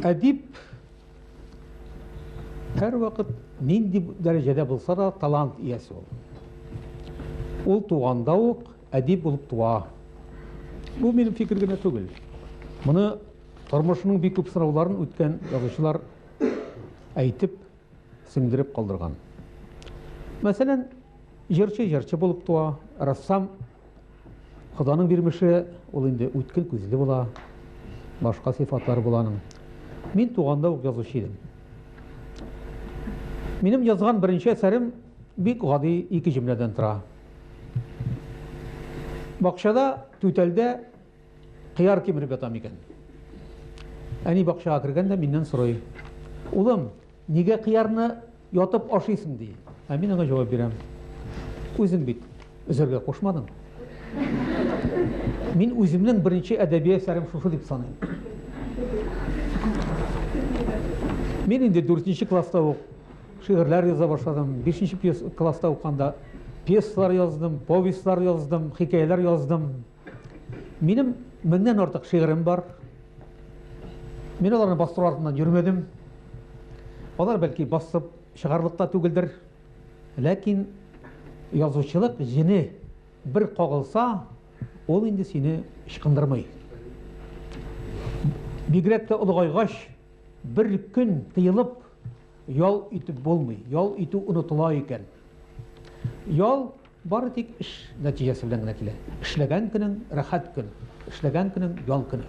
Әдип һәр вакыт нинди дәрәҗәдә булса да талант иясе ул. Ул туганда ук әдип булып туа. Бу минем фикер генә түгел. Моны тормышының бик күп сынауларын үткән язучылар әйтеп сеңдереп калдырган. Мәсәлән, җырчы җырчы булып туа, рәссам Ходаның бирмеше, ул инде үткен күзле була, башка сыйфатлары була аның. Мин туганда ук язучы идем. Минем язган беренче әсәрем бик гади ике җөмләдән тора. Бакчада, түтәлдә Кыяр кимереп ята микән? Әни бакчага кергән дә миннән сорый. Улым, нигә кыярны ятып ашыйсың ди. Ә мин аңа җавап бирәм. Үзең бит өзәргә кушмадың. Мин үземнең беренче әдәби әсәрем шушы дип саныйм. Мин инде 4 класста ук шигырьләр яза башладым. 5 класста уканда пьесалар яздым, повестьлар яздым, хикәяләр яздым. Минем меңнән артык шигырем бар. Мин аларны бастыру артыннан йөрмәдем. Алар бәлки басып чыгарлык та түгелдер. Ләкин язучылык җене бер кагылса, ул инде сине ычкындырмый. Бигрәк тә олыгайгач, бер көн тыелып ял итеп булмый. Ял итү онытыла икән. Ял Бары тик эш нәтиҗәсе белән генә килә. Эшләгән көнең, рәхәт көн, эшләгән көнең, ял көне.